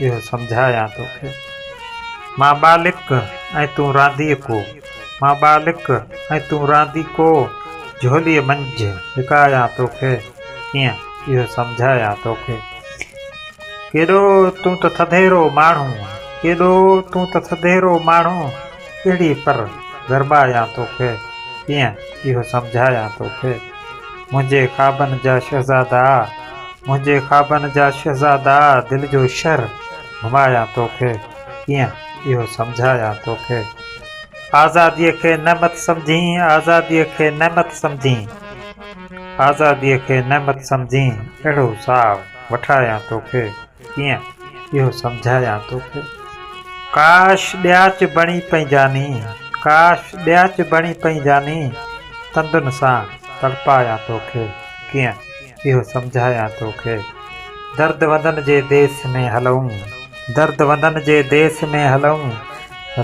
اهو سمجهايان توکي. مان ٻالڪ ۽ تون رانديڪو. مان ٻالڪ ۽ تون رانديڪو جهوليء منجهه لڪايان توکي. ڪيئن اهو سمجهايان توکي. ڪيڏو تون ته ٿڌيرو ماڻهو. ڪيڏو تون ته ٿڌيرو ماڻهو اهڙي پر گرمايان توکي. ڪيئن اهو سمجهايان توکي. منهنجي خوابن جا شهزادا منهنجي خوابن جا شهزادا دل جو شھر گهمايان توکي ڪيئن اهو سمجهايان توکي آزادي کي نعمت سمجهين آزادي کي نعمت سمجهين آزادي کي نعمت سمجهين اهڙو ساهه وٺايان توکي ڪيئن اهو سمجهايان توکي. ڪاش ڏياچ بڻي پئين جاني، ڪاش ڏياچ بڻي پئين جاني، تندن سان تڙپايان توکي، ڪيئن اهو سمجهايان توکي. درد وندن جي ديس ۾ هلئون، درد وندن جي ديس ۾ هلئون،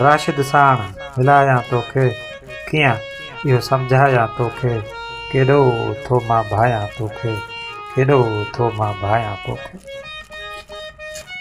راشد ساڻ ملايان توکي، ڪيئن اهو سمجهايان توکي، ڪيڏو ٿو مان ڀانيان توکي، ڪيڏو ٿو مان ڀانيان توکي.